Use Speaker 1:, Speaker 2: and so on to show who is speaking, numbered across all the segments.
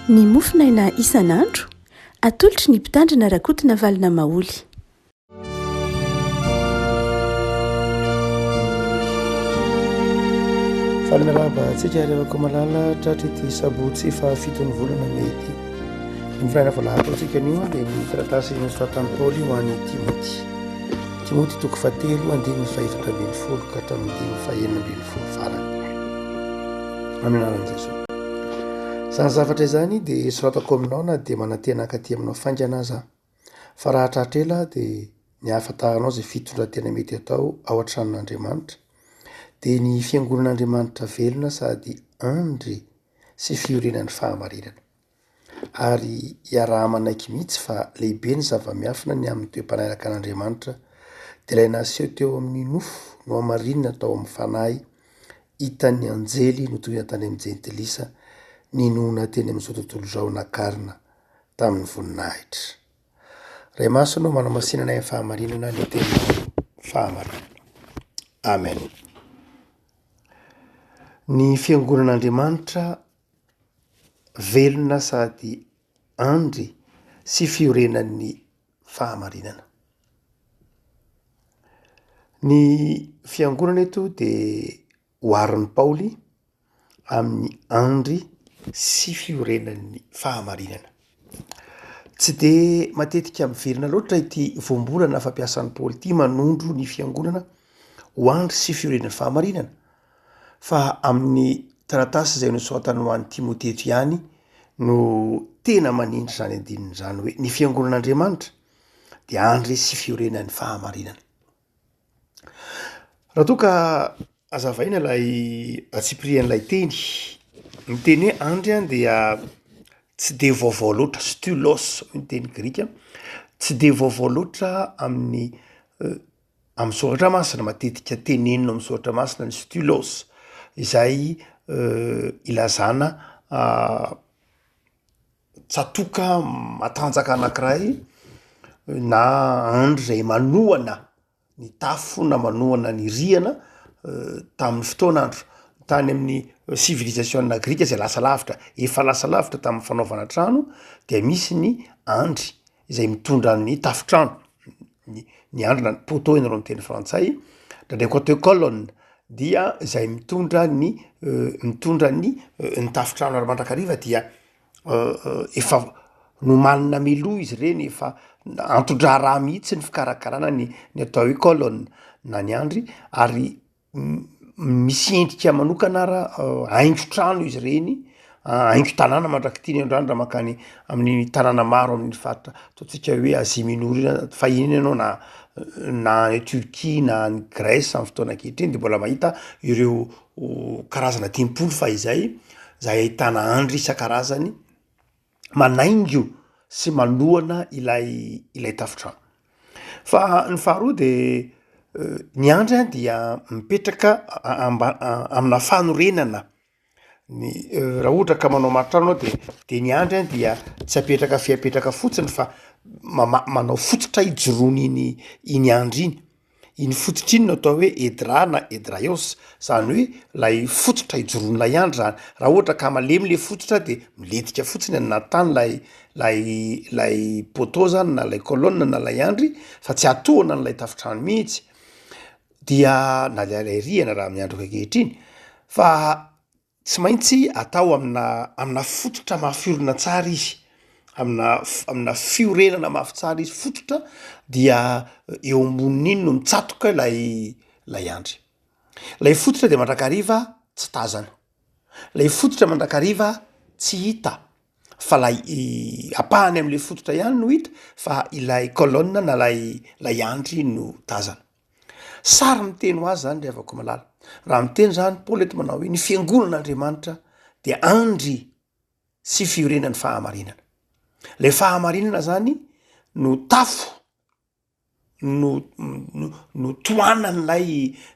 Speaker 1: Ny mofo naina isan'andro, atolotry ny Mpitandrina Rakotonavalona Maholy.
Speaker 2: Faly miarahaba antsika ary avako malala tratry ity sabotsy fahafiton'ny volana mey ity. Ny volana vao lahatra antsika anio dia ny taratasy nosoratan'i Paoly ho an'i Timoty. Timoty toko fahatelo andininy fahefatra ambin'ny folo ka hatramin'ny andininy fahenina ambin'ny folo farany. Amin'ny anaran'i Jesoa. Izany zavatra izany dia soratako aminao na dia manantena hankaty aminao faingana aza aho. Fa raha hatratra ela aho dia ny hahafantaranao izay fitondran-tena mety atao ao an-tranon'Andriamanitra dia ny fiangonan'Andriamanitra velona sady andry sy fiorenan'ny fahamarinana. Ary iaraha-manaiky mihitsy fa lehibe ny zava-miafina ny amin'ny toe-panahiraka an'Andriamanitra, dia ilay naseho teo amin'ny nofo nohamarinina tao amin'ny fanahy, hitan'ny anjely notorina tany amin'ny Jentilisa, ninoana teny amin'izao tontolo izao nakarina tamin'ny voninahitra. Ray Masina ô, manamasinana ny fahamarinana ny teninao fahamarinana. Amen. Ny fiangonan'Andriamanitra Velona sady andry sy fiorenan'ny fahamarinana. Ny fiangonana eto dia oharin'i Paoly amin'ny andry sy fiorenan'ny fahamarinana. Tsy dia matetika miverina loatra ity voambolana fampiasan'i Paoly ity manondro ny fiangonana ho andry sy fiorenan'ny fahamarinana fa amin'ny taratasy izay nosoratany ho an'i Timote eto ihany no tena manindry izany andininy izany hoe ny fiangonan'Andriamanitra dia andry sy fiorenan'ny fahamarinana. Raha toa ka azavaina ilay antsipirian'ilay teny, ny teny hoe andry a dia tsy dia vaovao loatra, stylos hoy ny teny grika, tsy dia vaovao loatra amin'ny amin'ny soratra masina, matetika tenenina amin'ny soratra masina ny stylos, izay ilazana tsatoka matanjaka anankiray na andry izay manohana ny tafo na manohana ny rihana tamin'ny fotoana andro tany amin'ny sivilizasiona grika izay lasa lavitra, efa lasa lavitra tamin'ny fanaovana trano dia misy ny andry izay mitondra ny tafontrano, ny ny andrina, ny poteau hoy nareo amin'ny teny frantsay, ndraindraiky koa atao hoe colonne, dia izay mitondra ny mitondra ny ny tafontrano ary mandrakariva dia efa nomanina mialoha izy ireny, efa anton-draharaha mihitsy ny fikarakarana ny ny atao hoe colonne na ny andry ary misy endrika manokana ara haingo trano izy ireny haingo tanàna mandrak'ity ny androany raha mankany amin'ny tanàna maro amin'ny faritra ataontsika hoe Asie Minor io zany fahiny ianao na na any Turquie na any Grèce am'y fotoana ankehitriny de mbola mahita ireo karazana tempoly fahizay zay ahitana andry isan-karazany manaingo sy manohana ilay ilay tafontrano. Fa ny faharoa de ny andry an dia mipetraka amba- amina fanorenana ny raha ohatra ka manao maritrano anao de de ny andry an dia tsy apetraka fe apetraka fotsiny fa mama- manao fototra ijoroany iny iny andry iny. Iny fototra iny no atao hoe edra na edraios, izany hoe ilay fototra ijoroan'ilay andro izany. Raha ohatra ka malemy ilay fototra dia milentika fotsiny any anaty tany ilay ilay ilay poteau izany na ilay colonne na ilay andry fa tsy atohana an'ilay tafontrano mihitsy, dia na dia ilay rihana raha amin'ny andro ankehitriny fa. Tsy maintsy atao amina amina fototra mafiorina tsara izy, amina amina fiorenana mafy tsara izy, fototra dia eo ambonin'iny no mitsatoka ilay ilay andry, ilay fototra dia mandrakariva tsy tazana, ilay fototra mandrakariva tsy hita fa ilay ampahany amin'ilay fototra ihany no hita fa ilay colonne na ilay ilay andry no tazana. Sary miteny ho azy izany ry havako malala. Raha miteny izany Paoly eto manao hoe ny fiangonan'Andriamanitra dia andry sy fiorenan'ny fahamarinana. Ilay fahamarinana izany no tafo no no tohanan'ilay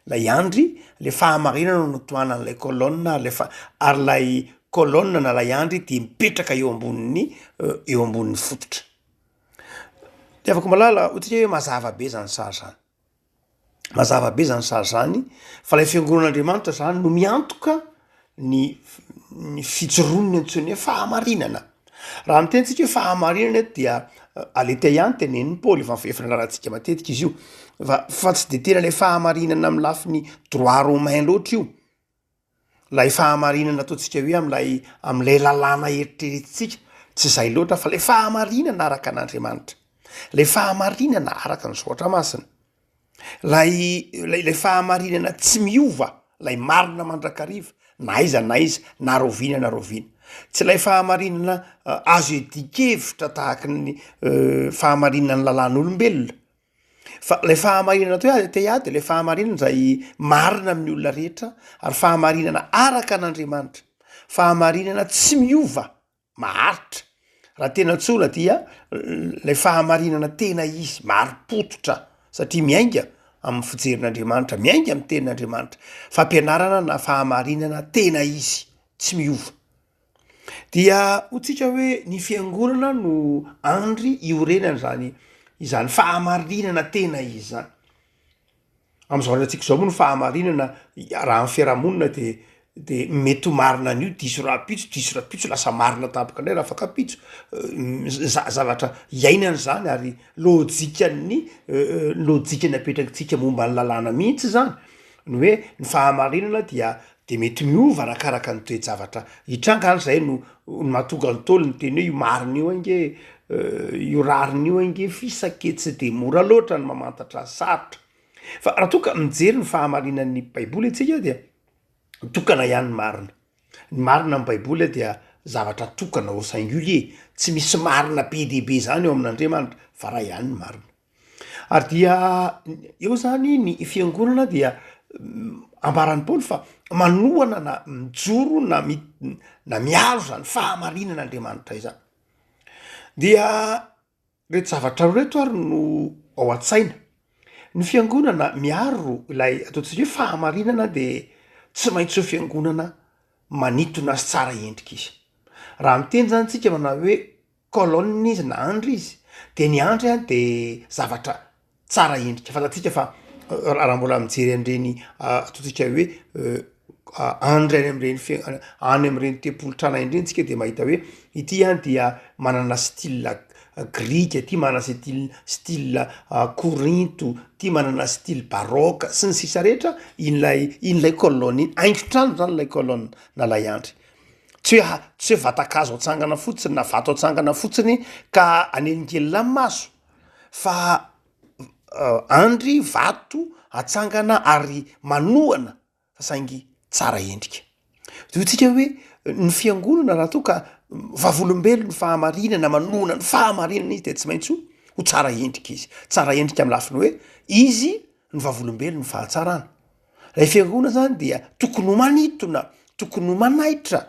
Speaker 2: ilay andry, ilay fahamarinana no tohanan'ilay colonne ary ilay ary ilay colonne na ilay andry dia mipetraka eo ambonin'ny eo ambonin'ny fototra. Itiavako malala ohatry ny hoe mazava be zany sary zany, mazava be zany sary zany fa lay fiangonagn'Andriamanitra zany no miantoka ny ny fijoroany antsoiny hoe fahamarinana, raha miteny tsika hoe fahamarinana eto dia aletheia ihany tenenin'i Paoly efa efa nianarantsika matetika izy io fa fa tsy de tena le fahamarinana amin'ny lafiny droit romain loatra io. ilay fahamarinana ataontsika hoe amin'ilay amin'ilay lalàna eritreretintsika, tsy izay loatra fa ilay fahamarinana araka an'Andriamanitra, ilay fahamarinana araka ny Soratra Masina, ilay ilay fahamarinana tsy miova, ilay marina mandrakariva na aiza na aiza, na rahoviana na rahoviana, tsy ilay fahamarinana azo iadian-kevitra tahaka ny fahamarinan'ny lalàn'olombelona. Fa ilay fahamarinana toy azy te ady ilay fahamarinana izay marina amin'ny olona rehetra ary fahamarinana araka an'Andriamanitra. Fahamarinana tsy miova, maharitra. Raha tena tsoina dia ilay fahamarinana tena izy, marim-pototra satria miainga amin'ny fijerin'Andriamanitra, miainga amin'ny tenin'Andriamanitra. Fampianarana na fahamarinana tena izy, tsy miova. Dia ho tsika hoe ny fiangonana no andry iorenany izany izany fahamarinana tena izany. Amin'izao androntsika izao moa ny fahamarinana raha amin'ny fiarahamonina dia dia mety ho marina anio diso rahampitso, diso rahampitso lasa marina tampoka indray raha fankam-pitso, za- zavatra iainana izany ary lojikan'ny lojika napetrakintsika momba ny lalàna mihitsy izany ny hoe ny fahamarinana dia Dia mety miova arakaraka ny toe-javatra hitranga ary izay no mahatonga ny Ntaolo niteny hoe io marina io ange io rariny io ange fisake tsy dia mora loatra ny mamantatra ny sarotra. Fa raha toa ka mijery ny fahamarinan'ny Baiboly isika dia tokana ihany ny marina. Ny marina amin'ny Baiboly dia zavatra tokana au singulier, tsy misy marina be dia be izany ao amin'Andriamanitra fa iray ihany ny marina. Ary dia eo zany ny fiangonana dia ambaran'i Paoly fa manohana na mijoro na mi- na miaro izany fahamarinana Andriamanitra izany. Dia reto zavatra roa reto ary no ao an-tsaina, ny fiangonana miaro ilay ataontsika hoe fahamarinana de tsy maintsy eo fiangonana manitona azy tsara endrika izy, raha miteny zany tsika manao hoe colonne izy na andry izy de ny andry a de zavatra tsara endrika fantatsika fa raha mbola mijery an'ireny ataontsika hoe andry any am'ireny fe- any am'ireny tempolitrana any ireny tsika de mahita hoe ity a dia manana style grika ty manana style style korinto ty manana style baroque sy ny sisa rehetra iny lay iny lay colonne iny haingon-trano zany lay colonne na lay andry Tsy hoe ha, tsy hoe vatan-kazo atsangana fotsiny na vato atsangana fotsiny ka anelingelina ny maso fa andry vato atsangana ary manohana fa saingy tsara endrika. Toy tsika hoe ny fiangonana raha toa ka vavolombelon'ny fahamarinana manohana ny fahamarinana izy dia tsy maintsy ho ho tsara endrika izy. Tsara endrika amin'ny lafiny hoe izy no vavolombelon'ny fahatsarana. Ilay fiangonana zany dia tokony ho manintona, tokony ho manaitra,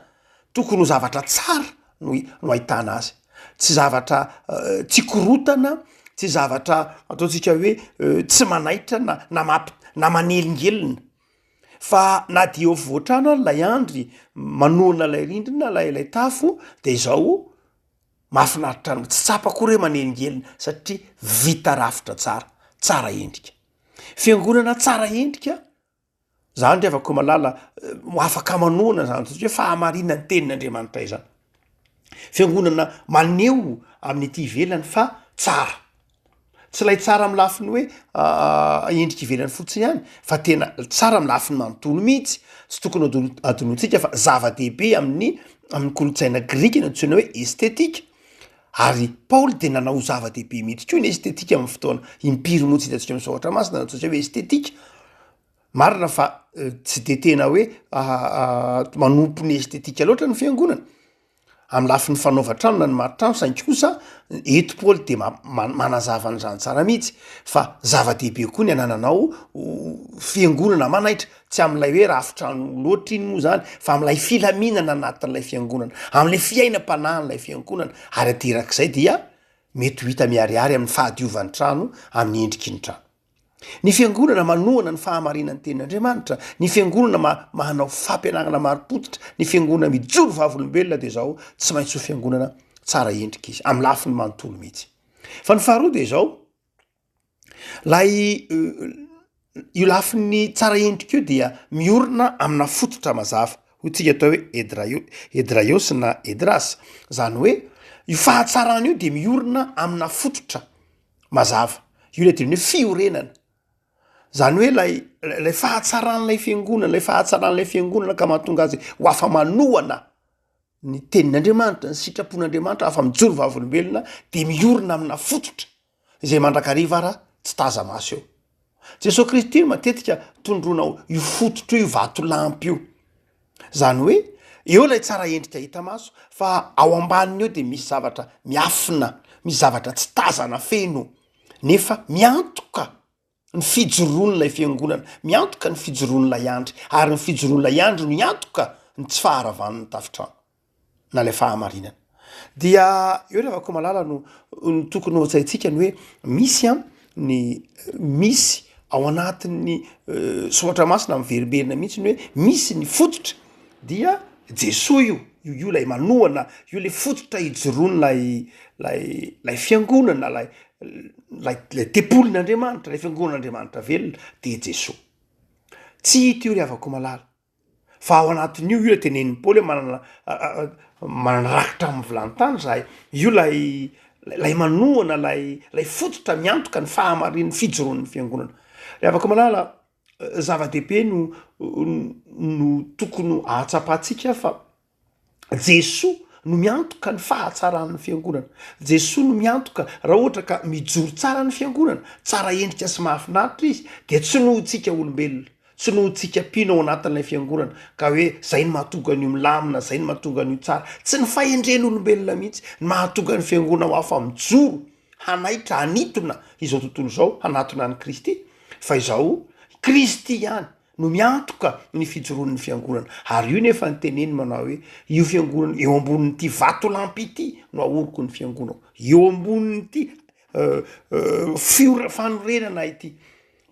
Speaker 2: tokony ho zavatra tsara no hi- no ahitana azy, tsy zavatra tsy korontana, tsy zavatra ataontsika hoe tsy manaitra na na mampi- na manelingelina fa na dia eo afovoan-trano ary lay andry manohana lay rindrina lay lay tafo de zao mahafinaritra anao, tsy tsapako akory hoe manelingelina satria vita rafitra tsara, tsara endrika. Fiangonana tsara endrika, izany ry havako malala, afaka manohana izany satria hoe fahamarinan'ny tenin'Andriamanitra izany. Fiangonana maneho amin'ny ety ivelany fa tsara, tsy ilay tsara amin'ny lafiny hoe endrika ivelany fotsiny ihany fa tena tsara amin'ny lafiny manontolo mihitsy, tsy tokony ho adinointsika fa zava-dehibe amin'ny amin'ny kolontsaina grika ny antsoina hoe estetika. Ary Paoly dia nanao ho zava-dehibe mihitsy koa ny estetika amin'ny fotoana impiry moa tsy hitantsika amin'ny Soratra Masina na antsointsika hoe estetika. Marina fa tsy dia tena hoe manompo ny estetika loatra ny fiangonana, amin'ny lafiny fanaovan-trano na ny maritrano, saingy kosa eto Paoly dia manazava an'izany tsara mihitsy fa zava-dehibe koa ny anananao fiangonana manaitra. tsy amin'ilay hoe rafitrano loatra iny moa zany fa amin'ilay filaminana anatin'ilay fiangonana, amin'ilay fiainam-panahin'ilay fiangonana ary aterak'izay dia mety ho hita miharihary amin'ny fahadiovan'ny trano amin'ny endriky ny trano. Ny fiangonana manohana ny fahamarinan'ny tenin'Andriamanitra, ny fiangonana ma- manao fampianarana marim-pototra, ny fiangonana mijoro vavolombelona dia izao tsy maintsy ho fiangonana tsara endrika izy, amin'ny lafiny manontolo mihitsy. Fa ny faharoa dia izao, Ilay io lafiny tsara endrika io dia miorina amina fototra mazava hoy tsika atao hoe edraio edraiosy na edrasy zany hoe io fahatsarana io dia miorina amina fototra mazava io le teny hoe fiorenana zany hoe lay lay fahatsaran'ilay fiangonana lay fahatsaran'ilay fiangonana ka mahatonga azy ho afa-manohana ny tenin'Andriamanitra, ny sitrapon'Andriamanitra afa-mijoro vavolombelona dia miorina amina fototra izay mandrakariva ara tsy taza-maso eo. Jesoa Kristy no matetika tondroina ho io fototra io vatolampy io. Izany hoe eo ilay tsara endrika hita maso fa ao ambaniny eo dia misy zavatra miafina, misy zavatra tsy tazana feno nefa miantoka. ny fijoroan'ilay fiangonana, miantoka ny fijoroan'ilay andry, ary ny fijoroan'ilay andry no hiantoka ny tsy faharavan'ny tafontrano, na ilay fahamarinana. Dia eo ry havako malala no no tokony ho tsaintsika ny hoe misy an ny misy ao anatin'ny soratra masina miverimberina mihitsy ny hoe misy ny fototra dia Jesoa io, io io lay manohana, io le fototra ijoroany lay lay lay fiangonana, lay lay lay tempolin'Andriamanitra, lay fiangonan'Andriamanitra velona dia Jesoa. Tsy hita io ry havako malala, fa ao anatin'io io le tenenin'i Paoly hoe manana manana rakitra amin'ny vilany tany zahay, io lay lay manohana lay lay fototra miantoka ny fahamarian'ny fijoroan'ny fiangonana. Ry havako malala. zava-dehibe no no tokony ho ahatsapantsika fa Jesoa no miantoka ny fahatsaran'ny fiangonana. Jesoa no miantoka raha ohatra ka mijoro tsara ny fiangonana, tsara endrika sy mahafinaritra izy dia tsy noho tsika olombelona, tsy noho tsika mpino ao anatin'ilay fiangonana ka hoe zay no mahatonga an'io milamina, zay no mahatonga an'io tsara. Tsy ny fahendren'olombelona mihitsy no mahatonga ny fiangonana ho afa-mijoro. hanaitra hanintona izao tontolo izao hanatona an'i Kristy fa izao Kristy ihany no miantoka ny fijoroan'ny fiangonana ary io nefa ny teneny manao hoe io fiangonana eo ambonin'ity vatolampy ity no ahoroko ny fiangonako eo ambonin'ity euh, euh, fiora fanorenana ity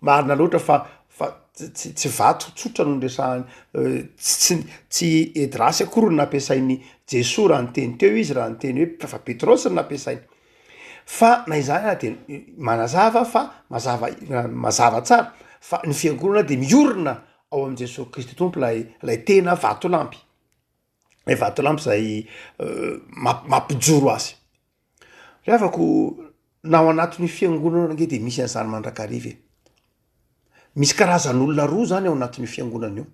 Speaker 2: Marina loatra fa fa tsy tsy vato tsotra no niresahany tsy tsy Edrasy akory no nampiasain'i Jesoa raha niteny teo izy raha niteny hoe fa Petrosy no nampiasainy. Fa na izany ary dia manazava fa mazava mazava tsara fa ny fiangonana dia miorina ao amin'i Jesoa Kristy Tompo ilay ilay tena vatolampy. ilay vatolampy izay mampijoro azy. Ry havako, na ao anatin'ny fiangonana ange dia misy an'izany mandrakariva e! Misy karazan'olona roa zany ao anatin'io fiangonana io,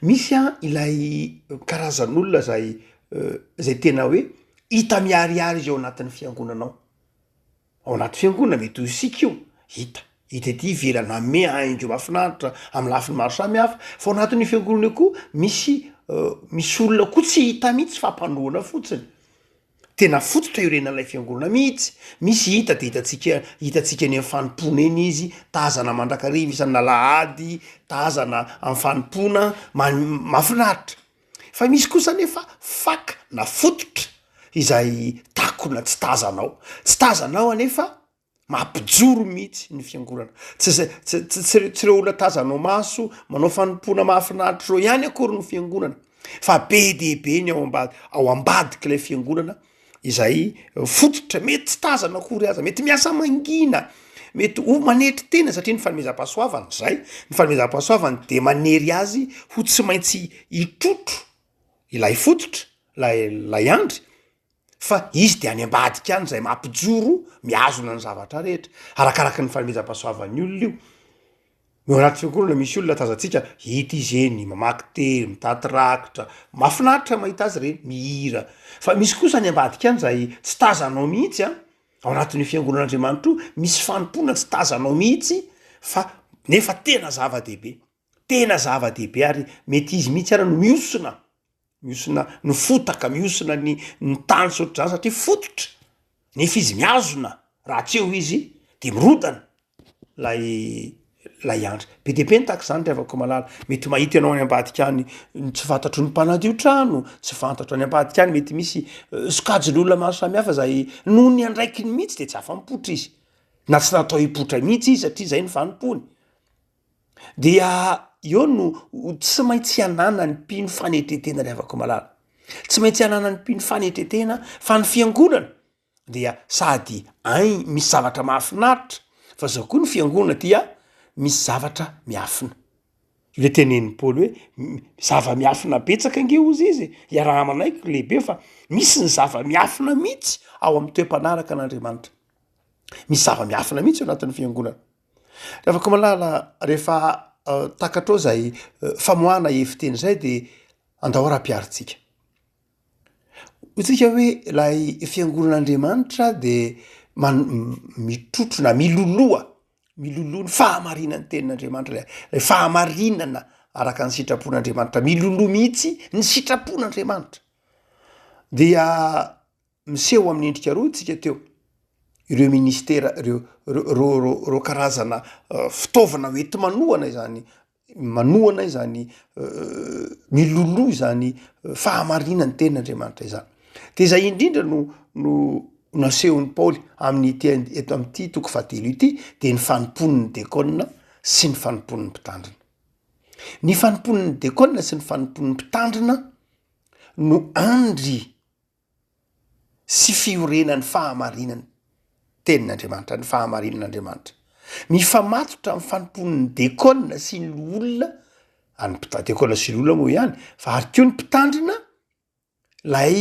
Speaker 2: misy an ilay karazan'olona zay zay tena hoe hita miharihary izy ao anatin'ny fiangonana ao, Ao anaty fiangonana mety ho isika io, hita hita ety ivelany, manome haingo mahafinaritra amin'ny lafiny maro samihafa, fa ao anatin'io fiangonana io koa misy misy olona koa tsy hita mihitsy fa mpanohana fotsiny, tena fototra iorenan'ilay fiangonana mihitsy, misy hita dia hitantsika hitantsika eny amin'ny fanompoana eny izy, tazana mandrakariva isan'alahady, tazana amin'ny fanompoana, mahafinaritra. Fa misy kosa anefa faka na fototra izay takona tsy tazanao, tsy tazanao anefa mampijoro mihitsy ny fiangonana. Tsy zay tsy tsy tsy ireo tsy ireo olona tazanao maso manao fanompoana mahafinaritra ireo ihany akory ny fiangonana fa be dia be ny ao ambad- ao ambadik'ilay fiangonana izay fototra mety tsy tazana akory aza, mety miasa mangina, mety ho manetry tena satria ny fanomezam-pahasoavana zay, ny fanomezam-pahasoavana de manery azy ho tsy maintsy hitrotro ilay fototra lay lay andry fa izy de any ambadika any zay mampijoro mihazona ny zavatra rehetra, arakaraky ny fanomezam-pahasoavan'ny olona io. Eo anaty fiokoronana misy olona tazantsika, hita izy eny mamaky teny, mitaty rakitra, mahafinaritra ny mahita azy ireny, mihira. Fa misy kosa any ambadika any zay tsy tazanao mihitsy an, ao anatin'io fiangonan'Andriamanitra io misy fanompoana tsy tazanao mihitsy fa nefa tena zava-dehibe, tena zava-dehibe ary mety izy mihitsy ary no mihosona. Mihosona ny fotaka, mihosona ny ny tany sy ohatr'izany satria fototra, nefa izy mihazona raha tsy eo izy de mirodana lay lay andry, be dia be ny tahaka izany ry havako malala, mety mahita ianao any ambadika any ny tsy fantatry ny mpanadio trano, tsy fantatro any ambadika any mety misy sokajin'olona maro samihafa zay noho ny andraikiny mihitsy de tsy afa-mipoitra izy, na tsy natao hipoitra mihitsy izy satria zay ny fanompoany. dia eo no tsy maintsy hananany mpino fanetretena ry avako malala tsy maintsy hananany mpino fanetretena fa ny fiangonana dia sady ai misy zavatra mahafinaritra fa zao koa ny fiangonana dia misy zavatra miafina le tenen'ny paoly hoe zava-miafina betsaka nge ozy izy iaraha-manaiky lehibe fa misy ny zava-miafina mihitsy ao amin'ny toe-panaraka an'andriamanitra misy zava-miafina mihitsy eo anatin'ny fiangonana Ravakomalala, Rehefa takatrao izay famoahana hevi-teny izay dia andao arapiharintsika. Hoy isika hoe ilay fiangonan'Andriamanitra dia man- mitrotro na miloloha, miloloha ny fahamarinan'ny tenin'Andriamanitra, ilay fahamarinana araka ny sitrapon'Andriamanitra, miloloha mihitsy ny sitrapon'Andriamanitra dia. Miseho amin'ny endrika roa isika teo, ireo ministera ireo, ireo karazana fitaovana ho enti-manohana izany, manohana izany, miloloha izany fahamarinan'ny tenin'Andriamanitra izany. Dia izay indrindra no no nasehon'i Paoly amin'ity eto amin'ity toko fahatelo ity dia ny fanompoan'ny dekona sy ny fanompoan'ny mpitandrina. Ny fanompoan'ny dekona sy ny fanompoan'ny mpitandrina no andry. sy fiorenan'ny fahamarinan'ny Tenin'Andriamanitra, ny fahamarinan'Andriamanitra. Mifamatotra amin'ny fanompoan'ny dekona sy ny loholona, an'ny mpita- dekona sy loholona moa ihany fa ary koa ny mpitandrina, ilay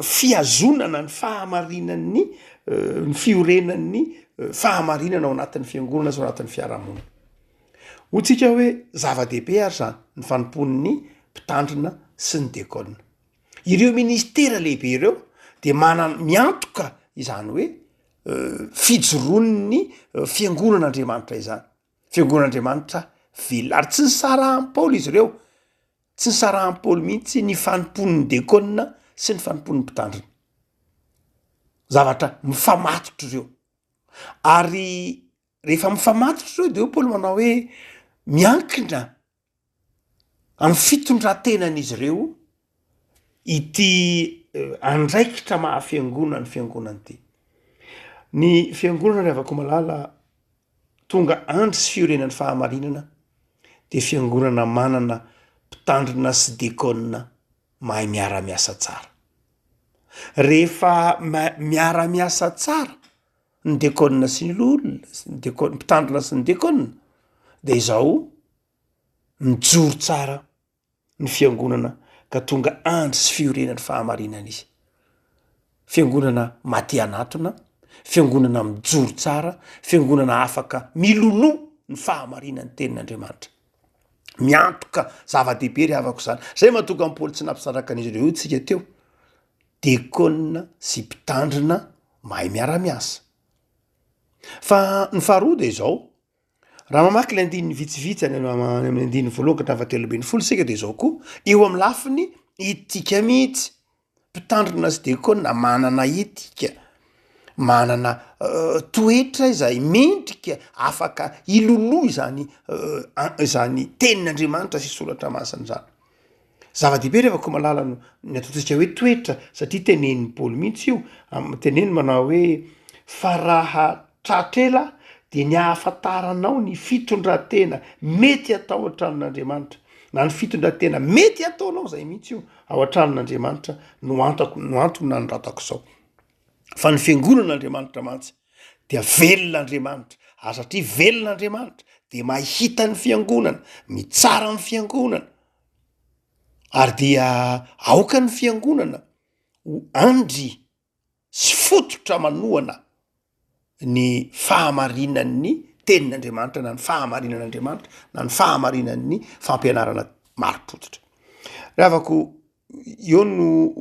Speaker 2: fihazonana ny fahamarinan'ny ny fiorenan'ny fahamarinana ao anatin'ny fiangonana sy ao anatin'ny fiarahamonina. Hoy tsika hoe zava-dehibe ary izany ny fanompoan'ny mpitandrina sy ny dekona. Ireo ministera lehibe ireo de manan- miantoka izany hoe fijoroan'ny fiangonan'Andriamanitra izany, fiangonan'Andriamanitra velona ary tsy nisaraham- paoly izy ireo, tsy nisaraham- paoly mihitsy ny fanompoan'ny dekona sy ny fanompoan'ny mpitandrina, zavatra mifamatotra ireo ary rehefa mifamatotra ireo de eo paoly manao hoe miankina Amin'ny fitondran-tenan'izy ireo ity andraikitra maha fiangonana ny fiangonana ity. Ny fiangonana ry havako malala tonga andry sy fiorenan'ny fahamarinana dia fiangonana manana mpitandrina sy dekôna mahay miara miasa tsara. Rehefa miara miasa tsara. ny Deacon sy ny Loholona sy ny Deacon, mpitandrina sy ny Deacon dia izao mijoro tsara ny fiangonana ka tonga andry sy fiorenan'ny fahamarinana izy. Fiangonana matihanatona, fiangonana mijoro tsara, fiangonana afaka miloloha ny fahamarinan'ny tenin'Andriamanitra. Miantoka zava-dehibe ry havako izany. Izay mahatonga an'i Paoly tsy nampisaraka an'izy ireo io tsika teo. dekona sy mpitandrina mahay miara-miasa. Fa ny faharoa dia izao, raha mamaky ilay andininy vitsivitsy any amin'ny andininy voalohany ka hatramin'ny fahatelo ambin'ny folo isika dia izao koa, eo amin'ny lafiny etika mihitsy, mpitandrina sy dekona manana etika, manana toetra izay mendrika afaka hiloloha izany izany tenin'Andriamanitra sy soratra masina izany. Zava-dehibe ry havako malala no ny ataontsika hoe toetra satria tenenin'i Paoly mihitsy io, teneniny manao hoe fa raha tratra ela dia ny ahafantaranao ny fitondran-tena mety atao an-tranon'Andriamanitra na ny fitondran-tena mety ataonao zay mihitsy io ao an-tranon'Andriamanitra no antako no antony nanoratako izao fa ny fiangonan'Andriamanitra mantsy dia velona Andriamanitra, ary satria velona Andriamanitra dia mahita ny fiangonana, mitsara ny fiangonana, ary dia aoka ny fiangonana ho andry sy fototra manohana ny fahamarinan'ny tenin'Andriamanitra na ny fahamarinan'Andriamanitra na ny fahamarinan'ny fampianarana marim-pototra. Ravako Eo no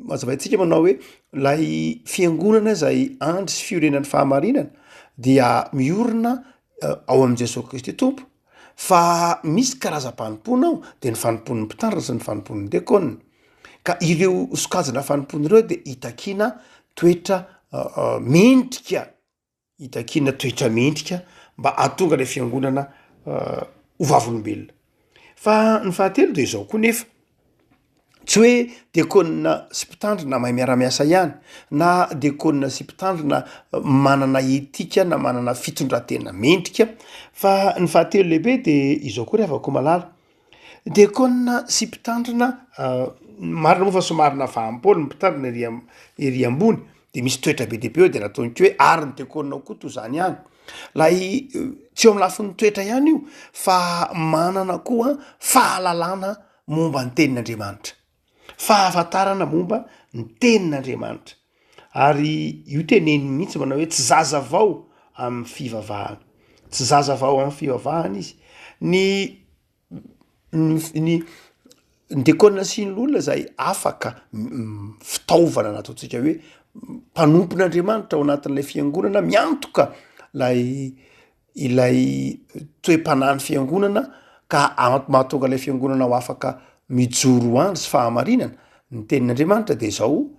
Speaker 2: mazavaintsika manao hoe lay fiangonana zay andry sy fiorenan'ny fahamarinana dia miorina eh, ao amin'i Jesosy Kristy Tompo fa misy karazam-panompoana ao dia ny fanompoan'ny mpitandrina sy ny fanompoan'ny dekona ka ireo sokajina fanompoana ireo dia itakiana toetra eh, eh, mendrika hitakiana toetra mendrika mba hahatonga ilay fiangonana ho vavolombelona. Fa ny fahatelo dia izao koa nefa, tsy hoe diakona sy mpitandrina mahay miara-miasa ihany na diakona sy mpitandrina manana etika na manana fitondran-tena mendrika fa ny fahatelo lehibe dia izao koa ry havako malala, Diakona sy mpitandrina, marina moa fa somary nafahampoana ny mpitandrina ery am- ery ambony de misy toetra be dia be eo de nataony koa hoe ary ny diakona ao koa toa zany ihany, lay tsy eo amin'ny lafiny toetra ihany io fa manana koa fahalalana momba ny tenin'Andriamanitra. fahafantarana momba ny tenin'Andriamanitra ary io teneniny mihitsy manao hoe tsy zaza vao amin'ny fivavahana, tsy zaza vao amin'ny fivavahana izy, ny ny diakona sy ny loholona zay afaka fitaovana nataontsika hoe mpanompon'Andriamanitra ao anatin'ilay fiangonana miantoka lay. ilay toe-panahin'ny fiangonana ka mahatonga ilay fiangonana ho afaka mijoro ho andry sy fahamarinana, ny tenin'Andriamanitra dia izao,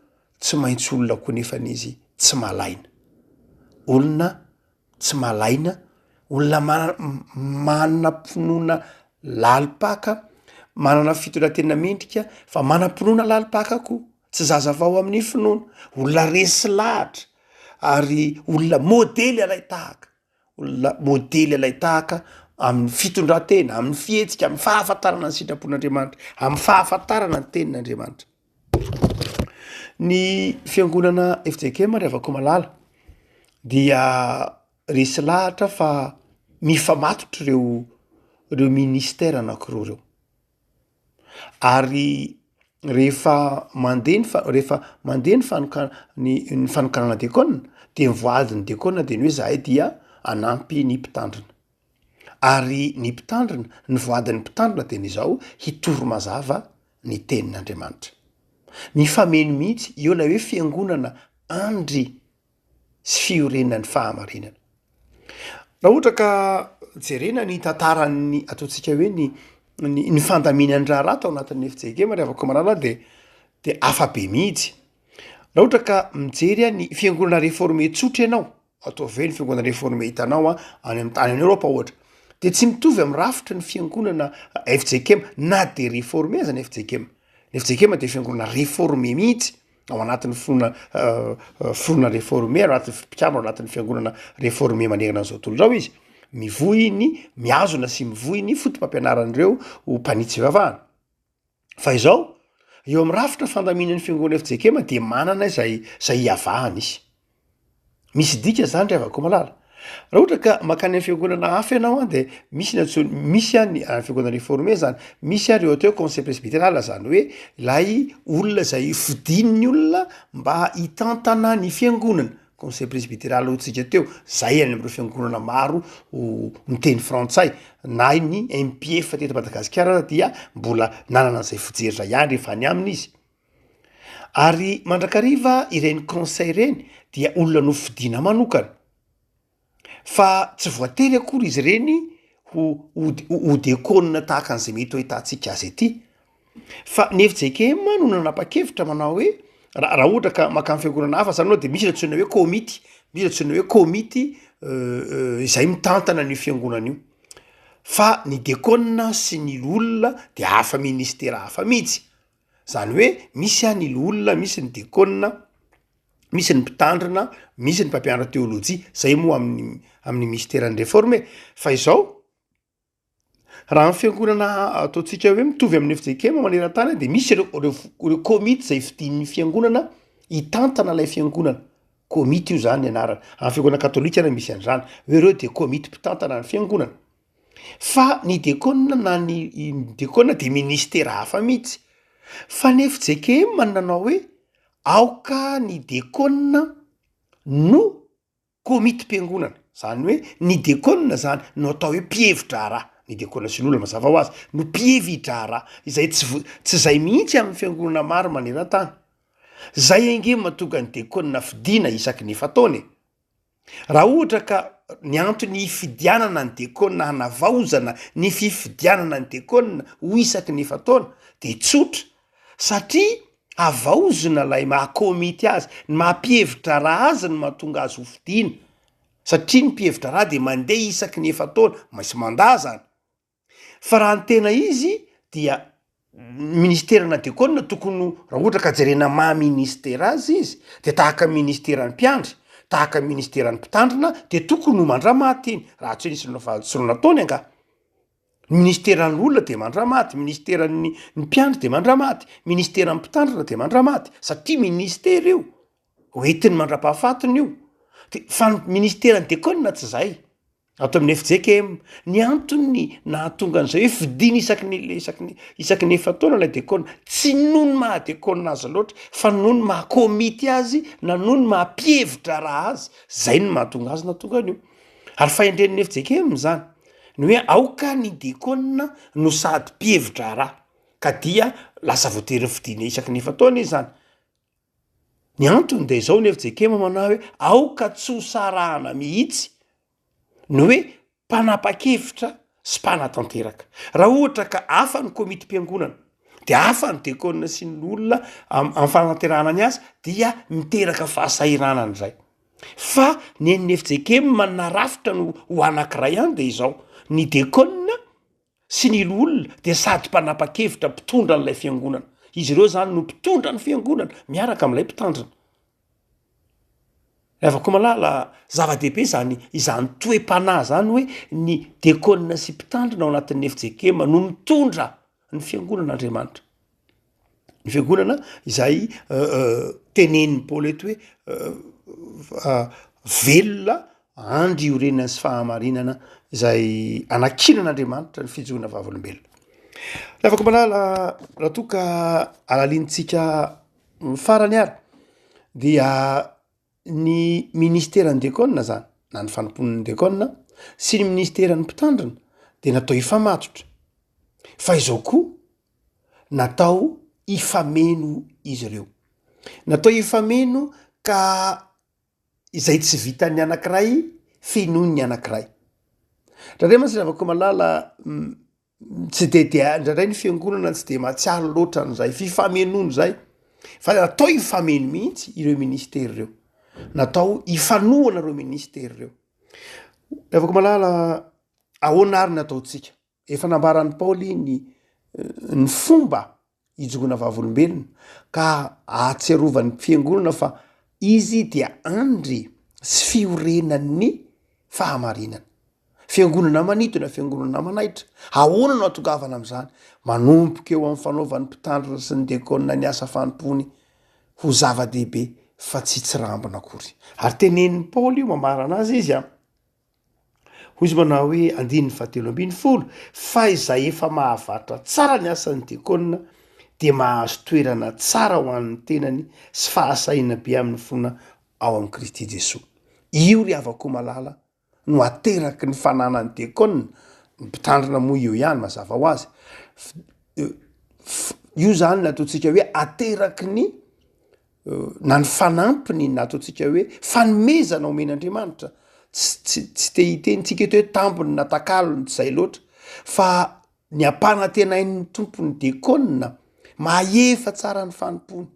Speaker 2: tsy maintsy olona koa nefany izy tsy malaina. Olona tsy malaina, olona manana finoana lalim-paka, manana fitondran-tena mendrika fa manam-pinoana lalim-paka koa. Tsy zaza vao amin'ny finoana, olona resy lahatra ary olona modely alain-tahaka, olona modely alain-tahaka amin'ny fitondran-tena, amin'ny fihetsika, amin'ny fahafantarana ny sitrapon'Andriamanitra, amin'ny fahafantarana ny tenin'Andriamanitra. Ny fiangonana FJKM ry havako malala dia resy lahatra fa mifamatotra ireo ireo ministera anankiroa ireo. Ary rehefa mandeha ny fa- rehefa mandeha ny fanoka- ny ny fanokanana diakona de ny voaadin'ny diakona de ny hoe zahay dia hanampy ny mpitandrina, ary ny mpitandrina ny voadin'ny mpitandrina de ny zao, hitory mazava ny tenin'Andriamanitra. Mifameno mihitsy eo lay hoe fiangonana andry. sy fiorenan'ny fahamarinana. Raha ohatra ka jerena ny tantaran'ny ataontsika hoe ny ny ny fandaminan'ny raharaha tao anatin'ny FJKM ry havako malala dia dia hafa be mihitsy. Raha ohatra ka mijery ahy ny fiangonana reforme tsotra ianao, ataovy hoe ny fiangonana reforme hitanao any amin'ny tany any Eoropa ohatra, dia tsy mitovy amin'ny rafitry ny fiangonana FJKM na dia reforme aza ny FJKM. Ny FJKM dia fiangonana reforme mihitsy. ao anatin'ny finoana finoana reforme ao anatin'ny mpikambana ao anatin'ny fiangonana reforme manerana an'izao tontolo izao izy, mivohy ny mihazona sy mivohy ny fotopampianaran'ireo ho mpanitsy fivavahana. Fa izao, eo amin'ny rafitra fandaminan'ny fiangonana FJKM dia manana izay izay iavahany izy. Misy dika zany ry havako malala. Raha ohatra ka makany amin'ny fiangonana hafa ianao an, dia misy ny antsoin- misy an ny any fiangonana reforme zany, misy an ry ohatra hoe conseil presbyteral zany hoe ilay olona izay fidin'ny olona mba hitantana ny fiangonana, conseil presbyteral hoy tsika teo, zay any amin'ireo fiangonana maro miteny frantsay, na ny MPF teto Madagasikara ary dia mbola nanana izay fijery izay ihany rehefa any aminy izy. Ary mandrakariva ireny conseil ireny dia olona nofidiana manokana fa tsy voatery akory izy ireny ho ho diakona tahaka an'izay mety ho ahitantsika azy aty fa ny fjkm no nanapa-kevitra manao hoe raha ohatra ka mankany fiangonana hafa zany ianao de misy ny antsoina hoe komity, misy ny antsoina hoe komity izay mitantana an'io fiangonana io fa ny diakona sy ny loholona dia hafa ministera hafa mihitsy. Zany hoe misy a ny loholona, misy ny diakona, misy ny mpitandrina, misy ny mpampianatra teolojia, zay moa amin'ny amin'ny misteran'ny reforme e! fa izao raha ny fiangonana ataontsika hoe mitovy amin'ny fjkm maneran-tany de misy reo reo f- reo komity zay fidin'ny fiangonana hitantana lay fiangonana, komity io zany ny anarany, amin'ny fiangonana katolika ary misy an'zany hoe reo de komity mpitantana ny fiangonana. fa ny dekona na ny dekona de ministera hafa mihitsy fa ny fjkm no nanao hoe aoka ny dekona no komitim-piangonana zany hoe ny dekona zany no atao hoe mpihevi-draharaha ny dekona sy ny olona mazava ho azy no mpihevi-draharaha izay tsy vo- tsy zay mihitsy amin'ny fiangonana maro maneran-tany zay ange mahatonga ny dekona fidina isaky ny efa-taona e. Raha ohatra ka ny antony hifidianana ny Diakona hanavaozana ny fifidianana ny Diakona ho isaky ny efa-taona dia tsotra, satria havaozina ilay maha komity azy, ny maha mpihevi-draharaha azy no mahatonga azy hofidiana, satria ny mpihevi-draharaha dia mandeha isaky ny efa-taona, misy mandat izany. Fa raha ny tena izy dia ny ministera na de kôna tokony ho raha ohatra ka jerena maha ministera azy izy de tahaka ministeran'ny mpiandry, tahaka ny ministeran'ny mpitandrina de tokony ho mandra-maty iny raha tsy nisy ny fahadisoana nataony angaha. Ny ministeran'ny olona de mandra-maty, ministeran'ny ny mpiandry de mandra-maty, ministeran'ny mpitandrina de mandra-maty satria ministera io, hoentiny mandra-pahafatiny io, de fa ny ministeran'ny de kôna tsy zay. Ato amin'ny fjkm, ny antony nahatonga an'izay hoe fidiny isaky ny isaky ny isaky ny efa-taona ilay dekona, tsy noho ny maha dekona azy loatra fa noho ny maha komity azy na noho ny maha mpihevi-draharaha azy, izay no mahatonga azy nahatonga an'io. Ary fahendren'ny fjkm izany, ny hoe aoka ny dekona no sady mpihevi-draharaha ka dia lasa voatery fidiny isaky ny efa-taona izy izany. Ny antony dia izao ny fjkm manahy hoe aoka tsy ho sarahana mihitsy ny hoe mpanapa-kevitra sy mpanatanteraka. Raha ohatra ka hafa ny komitim-piangonana dia hafa ny dekona sy ny olona amin'ny fanatanterahana ny asa dia miteraka fahasahiranana izay. Fa ny an'ny fjkm manana rafitra no ho anankiray ihany dia izao, ny dekona, sy ny loholona dia sady mpanapa-kevitra, mpitondra an'ilay fiangonana. Izy ireo izany no mpitondra ny fiangonana miaraka amin'ilay mpitandrina. Ry havako malala, zava-dehibe izany izany toe-panahy izany hoe ny diakona sy mpitandrina ao anatin'ny efijeikema no mitondra ny fiangonan'Andriamanitra. ny fiangonana izay tenenin'i Paoly eto hoe velona andry iorenany sy fahamarinana izay anakinan'Andriamanitra ny fijoroana vavolombelona. Lafako malala raha toa ka alalintsika farany ary dia ny ministeran'ny Decon zany na ny fanompoan'ny Decon sy ny ministeran'ny mpitandrina dia natao hifamatotra fa izao koa natao hifameno izy ireo natao hifameno ka izay tsy vitan'ny anankiray fenoin'ny anankiray. Raha re masina avako malala tsy de de indraindray ny fiangonana tsy de mahatsiaro loatra an'izay fifamenoana izay fa natao hifameno mihitsy ireo ministera ireo natao hifanohana ireo ministera ireo avako malala ahoana ary ny ataontsika efa nambaran'ny paoly ny eh, ny fomba hijoroana vavolombelona ka ahatsiarovan'ny fiangonana fa izy dia andry sy fiorenan'ny fahamarinana. Fiangonana manitona, fiangonana manaitra. Ahoana no atongavana amin'izany? Manomboka eo amin'ny fanaovan'ny mpitandrina sy ny dekona ny asa fanompoany ho zava-dehibe fa tsy tsirambina akory. Ary tenenin'i Paoly io mamarana azy izy a. Hoy izy manao hoe, andininy fahatelo ambin'ny folo, Fa izay efa mahavarotra tsara ny asan'ny diakona dia mahazo toerana tsara ho an'ny tenany sy fahasahiana be amin'ny finoana ao amin'i Kristy Jesoa. Io ry havako malala no ateraky ny fananan'ny diakona, ny mpitandrina moa eo ihany mazava ho azy, io zany no ataontsika hoe ateraky ny na ny fanampiny na ataontsika hoe fanomezana omen'Andriamanitra, tsy tsy te hiteny tsika eto hoe tambiny na takalony tsy zay loatra fa ny ampanantenain'ny tompony dekona mahefa tsara ny fanompony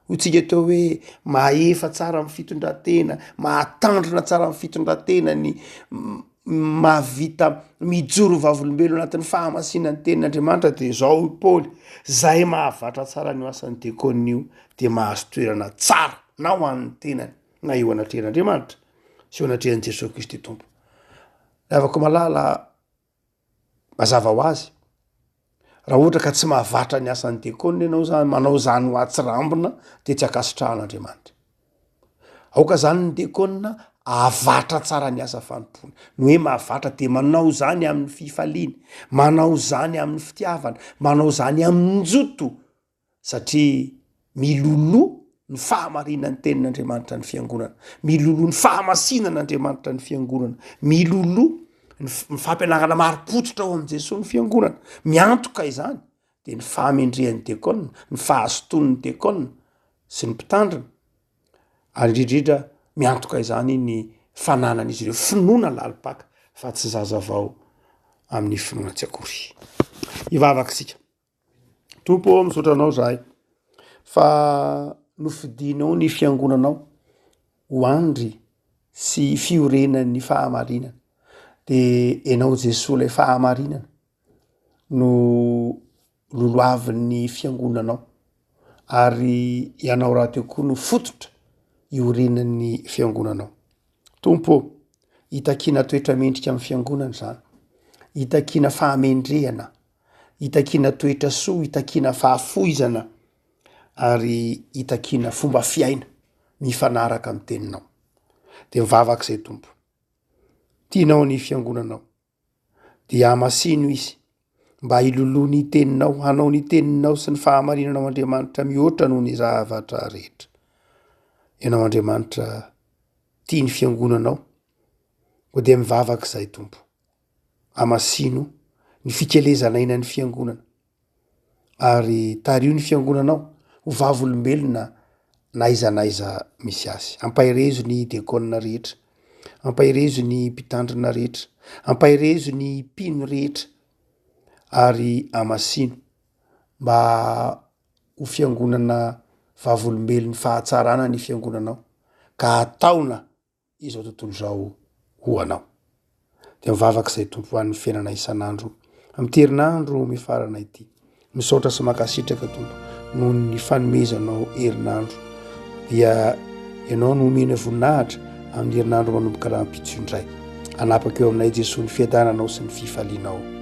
Speaker 2: hoy tsika atao hoe mahefa tsara amin'ny fitondratena mahatandrina tsara amin'ny fitondratena ny mahavita mijoro vavolombelona anatin'ny fahamasinan'ny tenin'Andriamanitra dia izao i Paoly, izay mahavatra tsara an'io asan'ny diakona io dia mahazo toerana tsara na ho an'ny tenany na eo anatrehan'Andriamanitra sy eo anatrehan'i Jesoa Kristy Tompo. Raha avy akoa malala mazava ho azy. Raha ohatra ka tsy mahavatra ny asan'ny diakona ianao zany, manao izany ho atsirambina dia tsy ankasitrahan'Andriamanitra. Aoka izany ny diakona ahavatra tsara ny asa fanompoany. Ny hoe mahavatra dia manao izany amin'ny fifaliany, manao izany amin'ny fitiavana, manao izany amin-joto. satria miloloha ny fahamarinan'ny tenin'Andriamanitra ny fiangonana, miloloha ny fahamasinan'Andriamanitra ny fiangonana, miloloha ny fampianarana marim-pototra ao amin'i Jesoa ny fiangonana, miantoka izany dia ny fahamendrehan'ny dekona, ny fahazotoan'ny dekona sy ny mpitandrina, ary indrindra miantoka izany ny fananan'izy ireo finoana lalim-paka fa tsy zazavao amin'ny finoana tsy akory. Hivavaka isika. Tompo ô, misaotra Anao zahay fa nofidinao ny fiangonanao ho andry sy fiorenan'ny fahamarinana, de Enao Jesoa lay fahamarinana no lolohavin'ny fiangonanao ary Ianao rahateo koa no fototra iorenan'ny fiangonanao. Tompo ô, itakiana toetra mendrika amin'ny fiangonana zany, itakiana fahamendrehana. itakiana toetra soa, itakiana fahafoizana ary itakiana fomba fiaina mifanaraka amin'ny teninao. Dia mivavaka izay Tompo. Tianao ny fiangonanao. Dia hamasino izy mba hiloloha ny teninao, hanao ny teninao sy ny fahamarinanao Andriamanitra mihoatra noho ny zavatra rehetra. Ianao Andriamanitra tia ny fiangonanao. Dia mivavaka izay Tompo. Hamasino ny fikelezanaina ny Fiangonana, ary tariho ny Fiangonanao ho vavolombelona na aiza na aiza misy azy. Ampaherezo ny Diakona rehetra. Ampaherezo ny Mpitandrina rehetra. Ampaherezo ny Mpino rehetra. Ary hamasino mba ho Fiangonana vavolombelon'ny fahatsarana ny Fiangonanao, ka hataona. izao tontolo izao ho anao. Dia mivavaka izay Tompo ho an'ny fiainana isan'andro amin'ny herinandro mifarana ity. Misaotra sy makasitraka Tompo noho ny fanomezanao herinandro. Dia ianao no omena voninahitra amin'ny herinandro manomboka rahampitso indray. Anapaka eo aminay Jesoa ny fiadananao sy ny fifalianao.